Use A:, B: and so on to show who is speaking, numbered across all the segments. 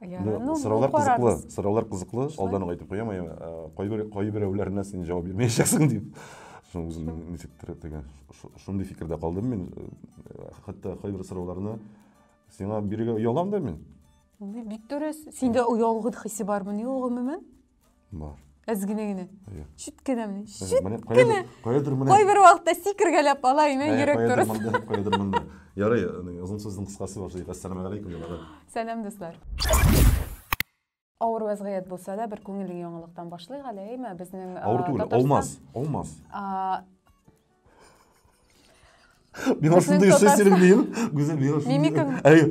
A: Яра, ну, сораулар кызыклы, сораулар кызыклы, алдан ук әйтеп куям, кайбер кайберәүләренә син җавап бирмәячәксең дип. Шуның үзем ничектер теге шундый фикердә калдым мин. Хәтта кайбер сорауларны сиңа бирергә оялам да мин. Бик дөрес.
B: Синдә оялгы хисе бармы ни ул гомумән? Бар.
A: Әз генә генә.
B: Чүт кенә менә. Чүт кенә.
A: Кайдыр менә. Кайбер вакытта
B: сикергәләп ала ине йөрәк турысы. Кайдыр монда, кайдыр монда.
A: Ярый, озын сүзнең кыскасы бар. Әссәламу алейкум, җанабыз. Сәлам, дуслар.
B: Авыр вазгыять булса да, бер күңелле яңалыктан башлыйк әле, әйме? Безнең Авыр түгел, алмаз,
A: алмаз. Миңа шундый эшләсәң, мин, гүзәл, миңа шундый. Мимикаң. Әйе.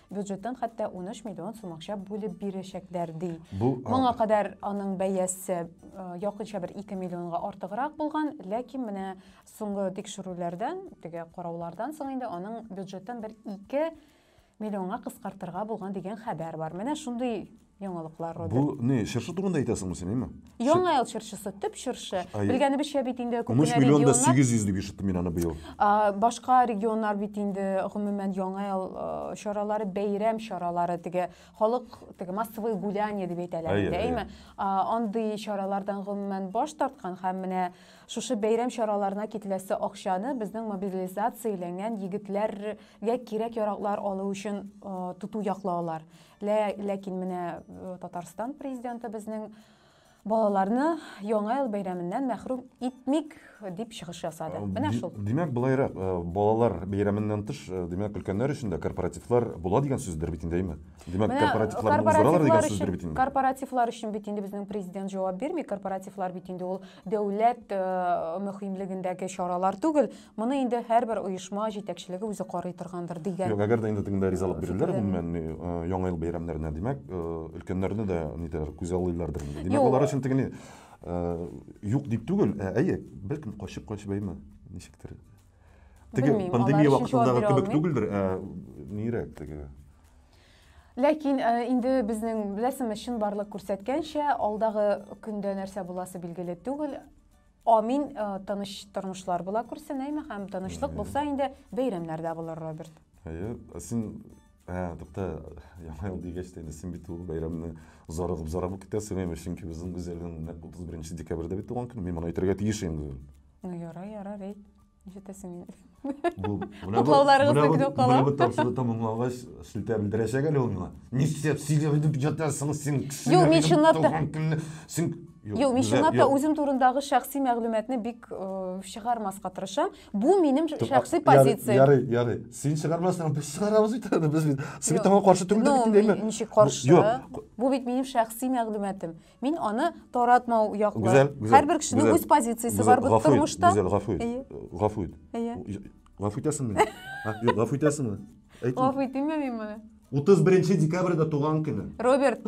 B: бюджеттан хәтта 13 миллион сум акча бүлеп бирәчәкләр ди. Бу моңа кадәр аның бәясе э, якынча бер 2 миллионга артыграк булган, ләкин менә соңгы тикшерүләрдән, теге караулардан соң инде аның бюджеттан бер 2 миллионга кыскартырга булган дигән хәбәр бар. Менә шундый Яңалыклар Бу Родерт. не, чыршы турында
A: әйтәсеңме син, әйме? Яңа ел чыршысы,
B: төп чыршы. Ай. Белгәнебезчә бит инде 13 күпенә миллион да регионнар, 800 дип
A: ишеттем мин аны быел. а, башка
B: регионнар бит инде гомумән яңа ел а, чаралары, бәйрәм чаралары теге халык теге массовое гуляние дип әйтәләр Әйе, инде, әйе. әйме? А, Андый чаралардан гомумән баш тарткан һәм менә шушы бәйрәм чараларына кителәсе акчаны безнең мобилизацияләнгән егетләргә кирәк-яраклар алу өчен а, тоту яклаулар. Лә, ләкин менә э, Татарстан президенты безнең балаларны яңа ел бәйрәменнән мәхрүм итмик дип чыгыш ясады. Э, Менә шул. Димәк, былайрак, э,
A: балалар бәйрәменнән тыш, э, димәк, өлкәннәр өчен дә корпоративлар була дигән сүздер бит инде, әйме? Димәк, корпоративларны уздыралар дигән сүздер бит инде. Корпоративлар өчен бит инде
B: безнең президент җавап бирми. Корпоративлар бит инде ул дәүләт мөһимлегендәге чаралар түгел. Моны инде һәрбер оешма җитәкчелеге үзе карый торгандыр дигән. Юк, әгәр дә инде тегендә ризалык
A: бирерләр, гомумән, ни, э, Яңа ел бәйрәмнәренә, димәк, э, өлкәннәрне дә нидер күзаллыйлардыр инде. Димәк, алар өчен теге ни, э, юк дип түгел, ә әйе, бәлкем качып-качып әйме, ничектер. Теге пандемия вакытындагы кебек түгелдер, ә нирәк теге.
B: Ләкин э, инде безнең беләсеңме чынбарлык күрсәткәнчә, алдагы көндә нәрсә буласы билгеле түгел. Амин, э, тыныч тормышлар була күрсен, әйме һәм тынычлык булса инде бәйрәмнәр дә булыр, Роберт. Әйе, ә син
A: ә, тукта, яңа ел дигәч тә инде син бит ул бәйрәмне зарыгып зарыгып китәсең, әйме, чөнки безнең Гүзәлнең нәкъ 31 декабрьдә бит туган көне, мин моны әйтергә тиеш инде. Ну, ярар, ярар,
B: әйт. Ишетәсең инде. Бу менә бу
A: менә бу менә бу тапшыру тәмамлангач сүтә белдерәчәк әле ул миңа. Нишләп сигә дип ятасың син кеше. Юк, мин чынлап та.
B: Син Юк, мин чынлап та үзем турындагы шәхси мәгълүматны бик э, чыгармаска тырышам. Бу минем шәхси позиция. Ярый, ярый. Син
A: чыгармасаң, без чыгарабыз бит әле. Без бит сиңа таңга каршы түгел дип әйтәм. Ну, ничек каршы?
B: Бу бит минем шәхси мәгълүматым. Мин аны таратмау яклы. Гүзәл, гүзәл. Һәрбер кешенең гүзәл, үз позициясе гүзәл, бар бит гафу ит, тормышта. Гүзәл, гафу ит. Әйе. Гафу
A: ит. Әйе. Гафу итәсеңме? А, Юк, гафу итәсеңме? Әйт. Гафу итимме
B: мин моны? 31 декабрьдә
A: туган көне. Роберт,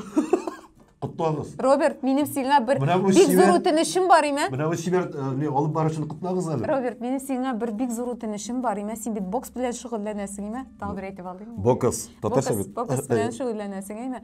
A: Котлагыз. Роберт, минем
B: сиңа бер Менә бу бик чибәр- зур үтенечем бар име? Менә бу чибәр э, не,
A: алып барышын котлагыз әле. Роберт, минем сиңа бер
B: бик зур үтенечем бар име? Син бит бокс белән шөгыльләнәсең име? Тагы бер әйтеп алыйм. Бокс. Татарча Бокс, бит.
A: бокс белән шөгыльләнәсең
B: име?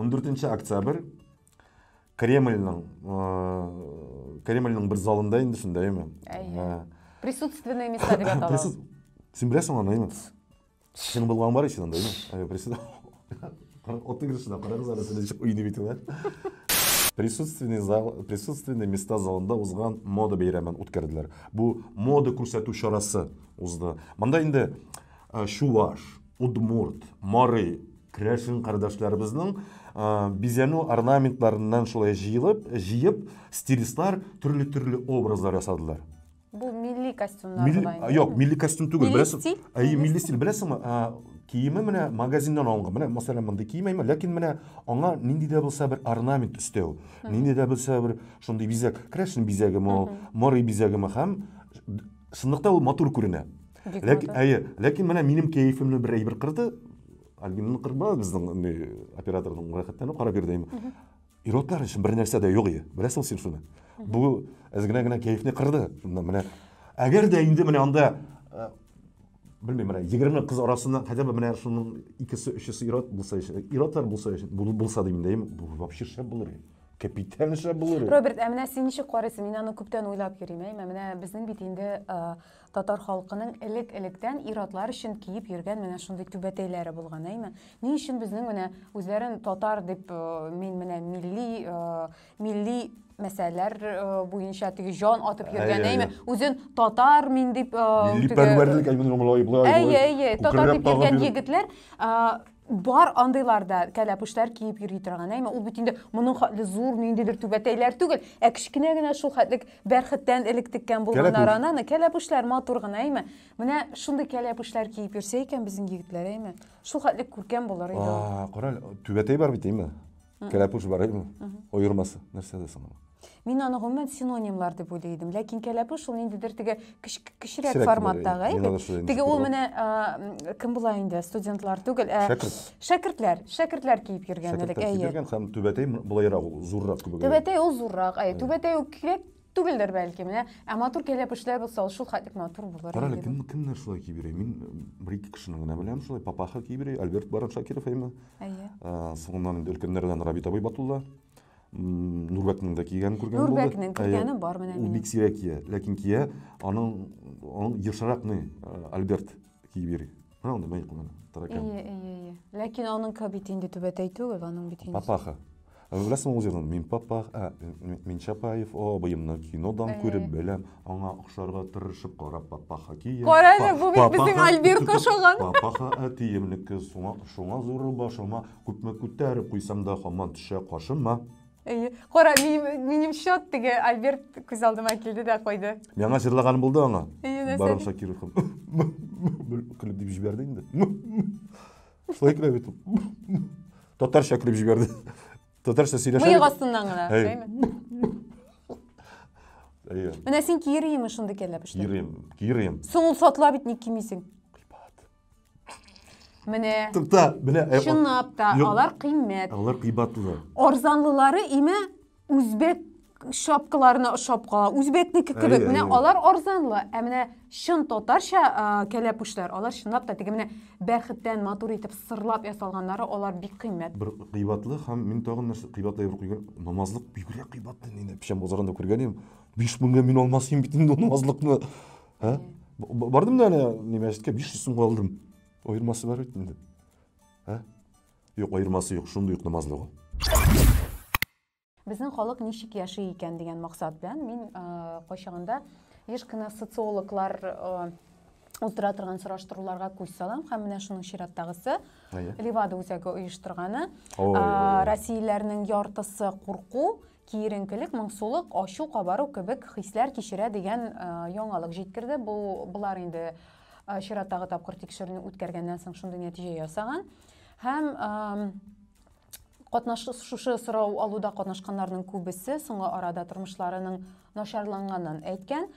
A: 14 октябрь Кремльның э, Кремльның бер залында инде шунда әйме. Э,
B: Присутственные места дип атала. Син беләсең
A: аны әйме? Синең булган бар ишен анда әйме. Отның кешенә карагыз әле сез ничек уйный бит ул. Присутственный зал, присутственный места залында узган мода бәйрәмен үткәрделәр. Бу мода күрсәтү чарасы узды. Монда инде Э, чуваш, удмурт, мары, крәшин кардәшләребезнең э, бизәнү орнаментларыннан шулай җыелып, җыеп, стилистлар төрле-төрле образлар ясадылар. Бу милли
B: костюмнар милли, була инде. Юк, милли костюм
A: түгел. Милли беләсең, стиль? Әйе,
B: милли
A: стиль.
B: Беләсеңме,
A: киеме менә магазиннан алынган. Менә, мәсәлән, мондый кием әйме, ләкин менә аңа нинди дә булса бер орнамент өстәү, нинди дә булса бер шундый бизәк, крәшен бизәгеме ул, морый бизәгеме һәм шунлыкта ул матур күренә. Бик Ләкин, матур. әйе, ләкин менә минем кәефемне бер әйбер кырды. Альбинаны кырмады безнең инде операторның рәхәттән карап бирде. Иротлар өчен бер нәрсә дә юк ие. Беләсең син шуны? Бу әз генә генә кәефне кырды. Менә- Менә әгәр дә инде менә анда э, белмим менә 20 кыз арасында хотя бы менә шуның икесе өчесе ирот булса өчен иротлар булса өчен бул- булса дим дә бу вообще шәп булыр ие. Капитан шәп булыр ие. Роберт, ә менә син ничек
B: карыйсың? Мин аны күптән уйлап йөрим, әйме? Менә безнең бит инде э, Татар халкының элек-электән ир-атлар өчен киеп йөргән менә шундый түбәтәйләре булган, әйме? Ни өчен безнең менә үзләрен татар дип э, мин менә милли э, милли мәсьәләләр э, буенча теге җан атып йөргән, әйме? Үзен татар мин дип Милли пәрвәрлек
A: әймен гомлай булай. Әйе,
B: әйе, татар дип йөргән егетләр Бар андыйлар да кәләпүшләр киеп йөри торган, әйме ул бит инде моның хәтле зур ниндидер түбәтәйләр түгел, ә кечкенә генә шул хәтлек бәрхеттән элек теккән булган нарананы, кәләпүшләр матур гына, әйме. Менә шундый кәләпүшләр киеп йөрсә икән безнең егетләр, әйме. Шул хәтлек күркәм булыр иде. А, карале, түбәтәй бар
A: бит, әйме. Кәләпүш бар әйме? Оермасы. Нәрсә дә соң? Мин аны гомумән
B: синонимлар дип уйлый идем. Ләкин кәләпүш ул ниндидер теге кечерәк форматтагы әйбит. Теге ул менә кем була инде? Студентлар түгел, ә шәкертләр, шәкертләр киеп йөргән элек, әйе. Шәкертләр киеп йөргән һәм түбәтәй
A: булайрак ул, зуррак күбегрәк. Түбәтәй ул зуррак, әйе.
B: Түбәтәй ул кирәк Түгелдер бәлки, менә. Ә матур кәләпүшләр булса, ул шул хәтлек матур булыр. Кара әле, кем, кемнәр шулай
A: киеп йөри? Мин бер ике кешене генә беләм шулай, папаха киеп йөри, Альберт Барон Шакиров әйме. Әйе. Соңыннан инде өлкәннәрдән Рабит абый Батулла. Нурбәкнең дә кигәнен күргән булды. Нурбәкнең кигәне бар менә.
B: Ул бик сирәк кия,
A: ләкин кия, аның аның ешрак ни Альберт Кибери. Һа, аны мәй куна. Таракан. Ие, ие, ие.
B: Ләкин аның кабит инде түбәтәй түгел, аның бит инде. Папаха. Ә
A: беләсең ул җырны? Мин папах, ә мин Чапаев, о, быемны кинодан күреп беләм, аңа охшарга тырышып кара папаха кия. Кара әле, бу бит безнең
B: Альбир кашаган. Папаха әтиемнеке,
A: шуңа, шуңа зуры башыма, күпме күтәреп куйсам да хаман төшә кашыма. Әйе. Кара,
B: минем, минем счет теге Альберт күз алдыма килде дә куйды. Миңа җырлаганым булды
A: аңа. Әйе, нәрсә? Барон Шакиров. Көлеп дип җибәрде инде. Шулай көлә бит. Татарча көлеп җибәрде. Татарча сөйләшә. Мыек астыннан гына, әйме?
B: Әйе. Менә син киерийме шундый кәләпешне? Киерим, киерим. Соң ул
A: сатыла бит,
B: ник кимисең? Менә. Тукта, менә. Э, Чынлап та, алар кыйммәт. Алар кыйбатлы.
A: Арзанлылары
B: име үзбек шапкаларына ошап кала. Үзбәкнеке кебек. Менә алар арзанлы. Ә менә чын татарча кәләпүшләр, алар чынлап та теге менә бәрхеттән матур итеп сырлап ясалганнары, алар бик кыйммәт. Бер кыйбатлы һәм
A: мин тагын нәрсә кыйбатлы бер куйган намазлык бигрәк кыйбатлы. Мин печән базарында күргән идем. 5000 меңгә мин алмас идем бит инде намазлыкны. ә? бардым да ана не мәчеткә биш жүз сумга алдым аермасы бар бит инде ә юк аермасы юк шундый ук намазлы ул
B: безнең халык ничек яши икән дигән максат белән мин ә, кайчагында еш кына социологлар ә, уздыра торган сораштыруларга күз салам һәм менә шуның чираттагысы левада үзәге оештырганы россияләрнең яртысы курку киеренкелек, моңсулык, ачу, кабару кебек хисләр кичерә дигән э, яңалык җиткерде. Бу болар инде э, чираттагы тапкыр тикшерүне үткәргәннән соң шундый нәтиҗә ясаган. Һәм катнаш шушы сорау алуда катнашканнарның күбесе соңгы арада тормышларының начарланганын әйткән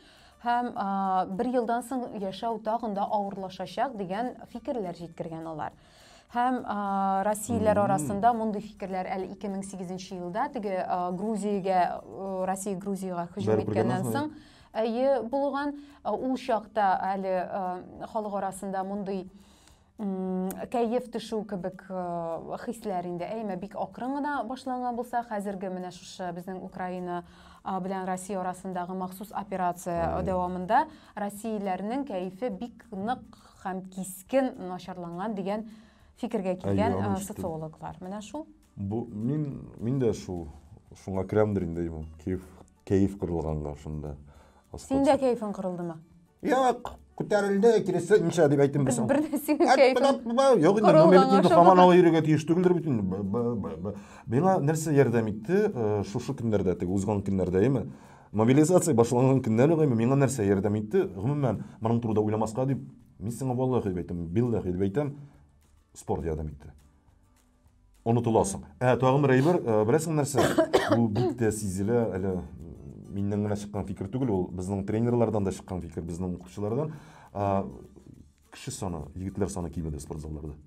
B: һәм бер елдан соң яшәү тагын да авырлашачак дигән фикерләр җиткергән алар. Һәм ә, россияләр арасында мондый фикерләр әле 2008 елда теге ә, Грузиягә Россия Грузиягә һөҗүм иткәннән соң әйе булган ул чакта әле халык арасында мондый кәеф төшү кебек хисләр инде әйме бик акрын гына башланган булса хәзерге менә шушы безнең украина белән россия арасындагы махсус операция дәвамында россияләрнең кәефе бик нык һәм кискен начарланган дигән фикергә килгән э, социологлар.
A: Менә шул.
B: Бу
A: мин
B: мин дә
A: шул шуңа керәмдер инде имам. Кәеф кәеф кырылганга шунда. Син дә кәефең
B: кырылдымы? Юк,
A: күтәрелде, киресе инша дип әйтем без. Бер нәрсәгә кәефең.
B: Юк, инде номер
A: инде хаман алып йөрергә тиеш түгелдер бит инде. Миңа нәрсә ярдәм итте? Э, шушы көннәрдә, теге узган көннәрдә, яме. Мобилизация башланган көннән үк әйме, миңа нәрсә ярдәм итте, гомумән, моның турыда уйламаска дип, мин сиңа валлахи дип әйтәм, биллахи дип әйтәм, спорт ярдәм итте. Онытыласың. Ә тагын бер әйбер, э, беләсең нәрсә? Бу бик тә сизелә, әле миннән генә чыккан фикер түгел, ул безнең тренерлардан да чыккан фикер, безнең укучылардан. Кеше саны, егетләр саны кимеде спортзалларда.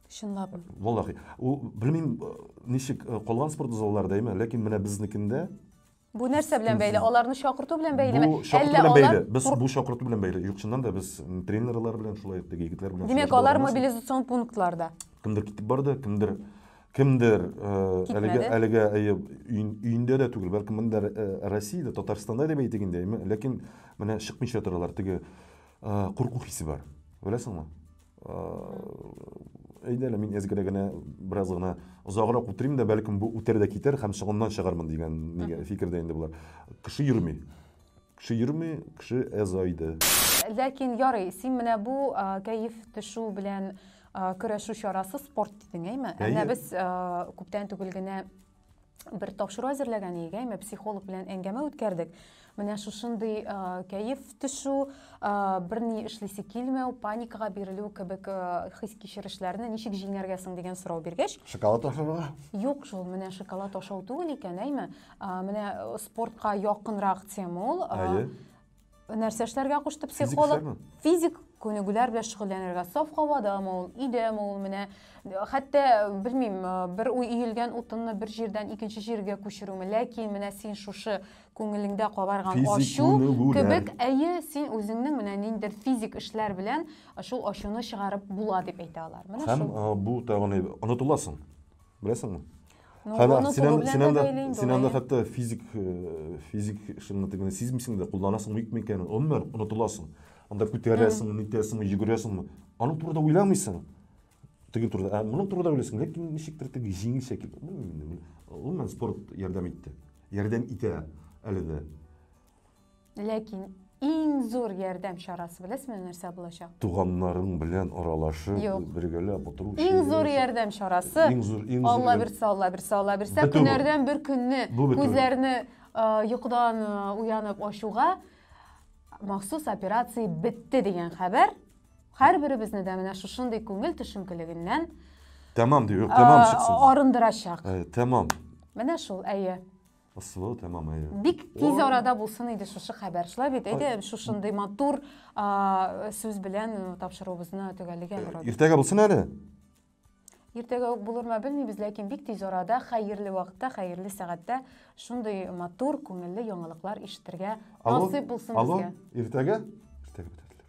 A: Чынлап.
B: Валлахи.
A: Ул белмим, э, ничек э, калган спортзалларда әйме, ләкин менә безнекендә Бу нәрсә
B: белән бәйле? Аларны чакырту белән бәйлеме? Бу чакырту белән бәйле.
A: Без бу чакырту белән бәйле. Юк, чыннан да без тренерлар белән шулай итте, егетләр белән. Димәк, алар мобилизацион
B: пунктларда. Кемдер китеп барды,
A: кемдер кемдер э, әлегә әлегә әйе өендә дә түгел, бәлки монда э, Россиядә, Татарстанда дип әйтик инде, ләкин менә чыкмыйча торалар, теге э, курку хисе бар. Беләсеңме? әйдә әле мин әзгәрә генә бераз гына озаграк утырыйм да бәлкем бу үтәр дә китәр һәм соңыннан чыгармын дигән фикердә инде болар кеше йөрми кеше йөрми кеше әзайды ләкин
B: ярый син менә бу кәеф төшү белән көрәшү чарасы спорт дидең әйме әнә без күптән түгел генә бер тапшыру әзерләгән идек, әйме психолог белән әңгәмә үткәрдек. Менә шушындый э, кәеф төшү, э, берни эшлисе килмәү, паникага бирелү кебек э, хис кичерешләрне ничек җиңәргә соң дигән сорау биргәч, Шоколад ашарга?
A: Юк шул, менә
B: шоколад ашау түгел икән, әйме. Э, менә э, спортка якынрак тема ул. Э, Әйе. нәрсә эшләргә кушты психолог физик күнегүләр белән шөгыльләнергә саф һавадамы ул өйдәме ул менә хәтта белмим бер уй иелгән утынны бер җирдән икенче җиргә күчерүме ләкин менә син шушы күңелеңдә кабарган ачу кебек әйе син үзеңнең менә ниндидер физик эшләр белән шул ачуны чыгарып була дип әйтә алар менә һәм бу тагын
A: онытыласың беләсеңме Ну, Хәлә, аны син, кулы ан- белән син дә анда, бәйле инде син ул, анда әйе. хәтта физик, э, физик шунда тегене сизмисең дә, кулланасың бик микәнен, гомумән онытыласың. Анда күтәрәсең, нитәсең, йөгерәсең. Аның турында уйламыйсың. Теге турында, ә моның турында уйлыйсың, ләкин ничектер теге җиңелчә килде. Белмим инде, мин- гомумән спорт ярдәм итте. Ярдәм итә әле дә.
B: Ләкин иң зур ярдәм чарасы беләсезме нәрсә булачак? Туганнарың белән
A: аралашып, Юк. бергәләп утыру. Иң зур ярдәм
B: чарасы. Иң зур, иң зур. Алла бирсә, Алла бирсә, Алла бирсә, көннәрдән бер көнне күзләрне йокыдан уянып ачуга махсус операция бетте дигән хәбәр һәрберебезне дә менә шушындый күңел төшенкелегеннән Тәмам
A: дип, тәмам чыксын. Арындырачак.
B: Тәмам.
A: Менә шул,
B: әйе. Ысулы
A: тәмам әйе. Бик тиз арада
B: булсын иде шушы хәбәр. Шулай бит, әйдә шушындый матур сүз белән э, тапшыруыбызны төгәллегә барабыз. Иртәгә булсын әле. Иртәгә үк булырмы белмибез, ләкин бик тиз арада, хәерле вакытта, хәерле сәгатьтә шундый матур, күңелле яңалыклар ишетергә насыйп булсын безгә. Алло, иртәгә?
A: Иртәгә бетәтләр.